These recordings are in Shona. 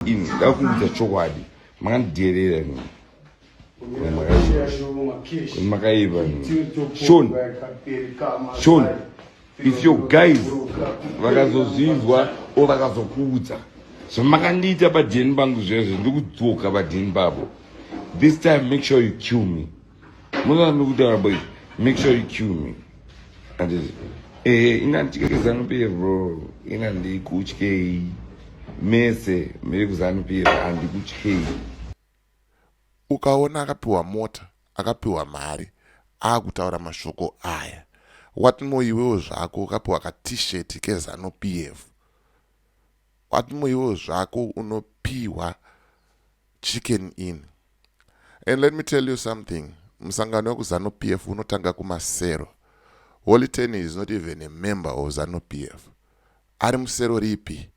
ini ndakuudza chokwadi makandidherera ini makaiva shon shon if your guys vakazozvinzwa o vakazokuudza zvamakandiita padheni pangu zvezvo ndikudzoka padheni pavo this time make sure you kill me murambi kutaura boy make sure you kill me anditi ehe eh, ina ndichikeke zanu pf bro ina ndikutyei mese miri kuzanu pf andikutyei ukaona akapiwa mota akapiwa mari akutaura mashoko aya what more iwewo zvako ukapiwa ka t-shirt kezanu pf what more iwewo zvako unopiwa Chicken Inn. And let me tell you something, musangano wekuzanu PF unotanga kumasero. Holy Ten is not even a member of zanu PF. Ari musero ripi?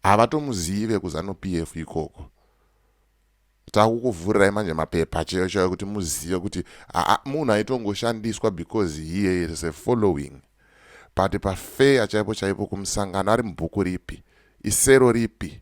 Havatomuzive kuzanu PF ikoko. Takukuvhurirai manje mapepa chaiyo chaiyo kuti muzive kuti munhu aitongoshandiswa because here is a following. But pafeya chaipo chaipo kumusangano ari mubhuku ripi? Isero ripi?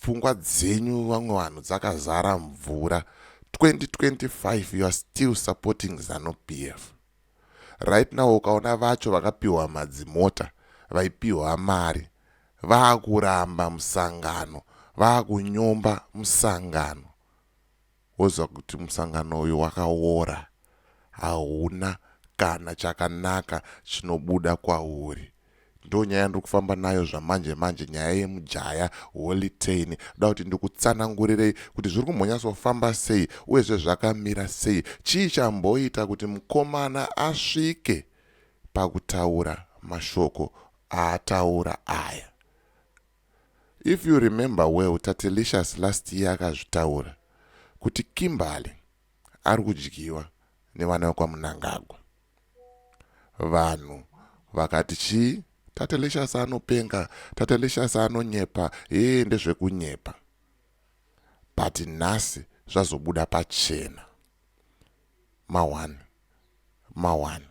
pfungwa dzenyu vamwe vanhu dzakazara mvura 2025 you are still supporting zanu pf right now ukaona vacho vakapiwa madzimota vaipiwa mari vaakuramba musangano vaakunyomba musangano woziva kuti musangano uyu wakawora hauna kana chakanaka chinobuda kwauri ndonyaya yandiri kufamba nayo zvamanje manje nyaya yemujaya holitein da kuti ndikutsanangurirei kuti zviri kumbonyatsofamba sei uyezve zvakamira sei chii chamboita kuti mukomana asvike pakutaura mashoko aataura aya If you remember well Tatelicious last year akazvitaura kuti Kimberly ari kudyiwa nevana vekwaMunangagwa. Vanhu vakati chii? Tatelicious anopenga, Tatelicious anonyepa, hee ndezvekunyepa. But nhasi zvazobuda pachena. Mawani. mawana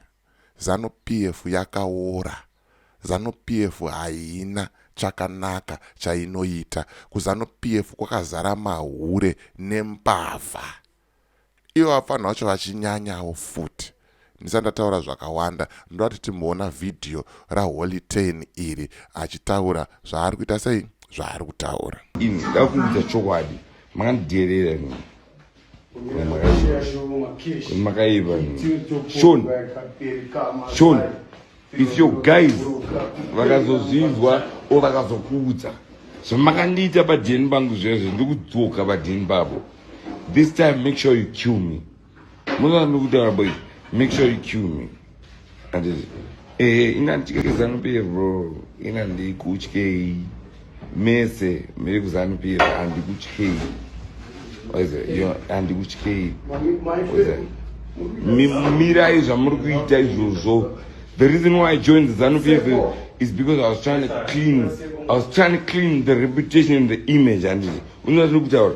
zanu PF yakaora zanu PF haina chakanaka chainoita kuzanu PF kwakazara mahure nembavha ivo vafanha vacho vachinyanyawo futi ndisati ndataura zvakawanda ndoda kuti timboona vhidhiyo raholy ten iri achitaura zvaari kuita sei zvaari kutaura ini ndakuudza chokwadi makandidheerera imimi makaiva shon shon if your guys vakazozvinzwa o vakazokuudza zvamakandiita padheni pangu zvezvo ndikudzoka padheni pavo this time make sure you kill me munoa ndikutaura boys make sure you kill me Eh, ina ndichikeke zanu pf bro ina ndikutyei mese miri kuzanu pf andikutyei andikutyei mirai zvamuri kuita izvozvo the reason why i joined zanu pf is because i was trying to clean i was trying to clean the reputation and the image handiti unoa zviri kutaura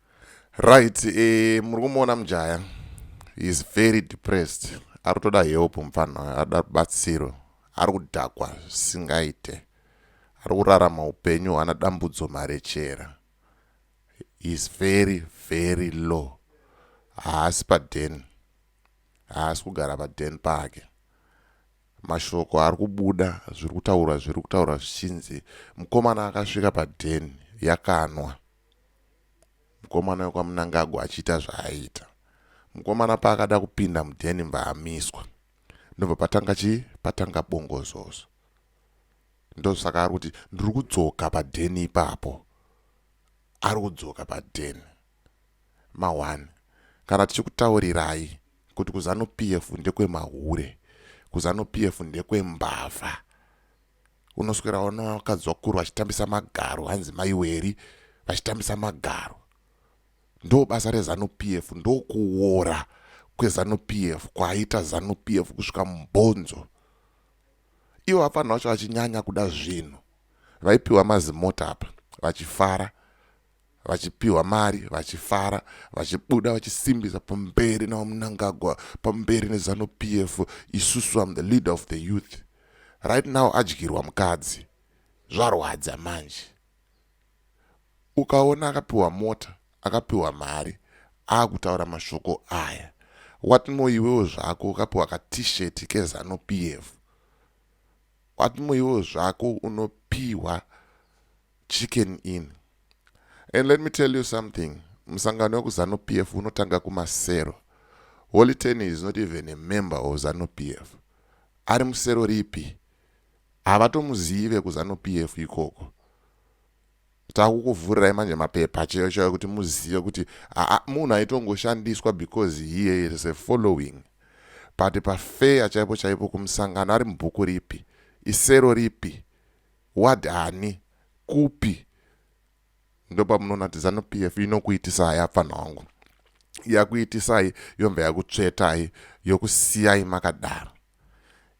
Right, eh, muri kumuona mujaya he is very depressed ari kutoda help mupfanha uyo ari kuda rubatsiro ari kudhakwa zvisingaite ari kurarama upenyu hwana dambudzo marechera he is very very low haasi paden haasi kugara paden pake mashoko ari kubuda zviri kutaurwa zviri kutaurwa zvichinzi mukomana akasvika paden yakanwa Mukomana wekwaMunangagwa achiita zvaaiita. Mukomana paakada kupinda mudheni mvaamiswa. Ndobva patanga chii? Patanga bongozozo. Ndosaka ari kuti ndiri kudzoka padheni ipapo. Ari kudzoka padheni. Mahwani. Kana tichikutaurirai kuti kuZanu PF ndekwe mahure. KuZanu PF ndekwe mbavha. unoswera ona vakadzwakuru vachitambisa magaro hanzi maiweri vachitambisa magaro ndo basa rezanup f ndokuwora kwezanup f kwaaita zanup f kusvika mubhonzo ivo vafanira vacho vachinyanya kuda zvinhu vaipiwa mazimota apa vachifara vachipiwa mari vachifara vachibuda vachisimbisa pamberi navamunangagwa pamberi nezanu p f isusu am the leader of the youth right now adyirwa mukadzi zvarwadza manje ukaona akapiwa mota akapiwa mari akutaura mashoko aya what more iwewo zvako ukapiwa katishet kezanu p f what more iwewo zvako unopiwa Chicken Inn. And let me tell you something, musangano wekuZanu PF unotanga kumasero. Holy Ten is not even a member of ZANU PF. Ari musero ripi? Havatomuzivi vekuZANU PF ikoko. Takukuvhurirai manje mapepa chaiyo chaiyo kuti muzive kuti munhu aitongoshandiswa because he is a following. But pafeya chaipo chaipo kumusangano ari mubhuku ripi? Isero ripi? What honey? Kupi? Ndopamunoona kuti zanu PF inokuitisai apfana wangu. Yakuitisai yomva yakutsvetai yokusiyai makadaro.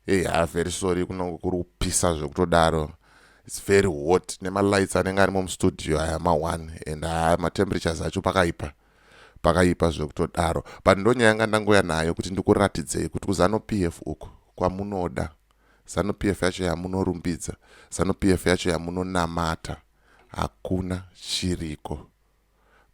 Hey, ha very sorry kunongo kuri kupisa zvekutodaro. It's very hot nema lights anenge arimo mustudio aya ma one and ha ma temperatures acho pakaipa. Pakaipa zvekutodaro. But ndonyaya yanga ndangoya nayo kuti ndikuratidzei kuti kuzano PF uko kwamunoda. Zanu PF yacho yamunorumbidza, Zanu PF yacho yamunonamata hakuna chiriko.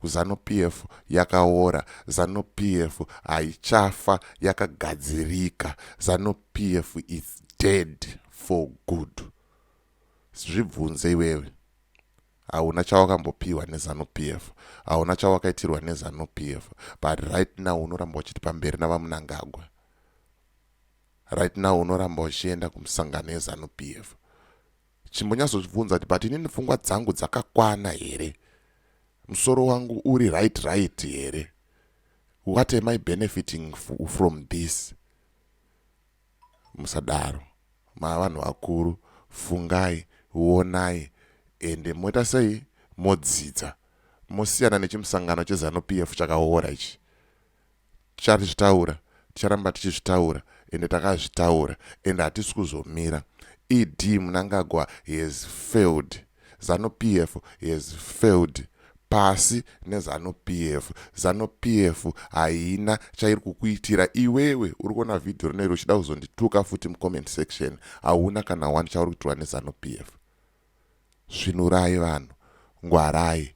Zanu PF yakaora, Zanu PF haichafa yakagadzirika, Zanu PF is dead for good. Zvibvunze iwewe hauna chawakambopiwa nezanu pf hauna chawakaitirwa nezanu pf but right now unoramba uchiti pamberi navamunangagwa Right now unoramba uchienda kumusangano yezanu PF. Chimbonyatsozvibvunza kuti but inini pfungwa dzangu dzakakwana here? Musoro wangu uri right right here? What am I benefiting from this? Musadaro. Mavanhu vakuru, fungai, wonai, ende moita sei? Modzidza. Mosiyana nechimusangano chezanu PF chakaora ichi. Tichazvitaura, ticharamba tichizvitaura ende takazvitaura ende hatisi kuzomira. ED Mnangagwa he has failed. Zanu PF he has failed. Pasi neZanu PF. Zanu PF haina chairi kukuitira iwewe uri kuona vhidhiyo rino iri uchida kuzondituka futi mucomment section. Hauna kana one chauri kuitirwa neZanu PF. Svinurai vanhu, ngwarai,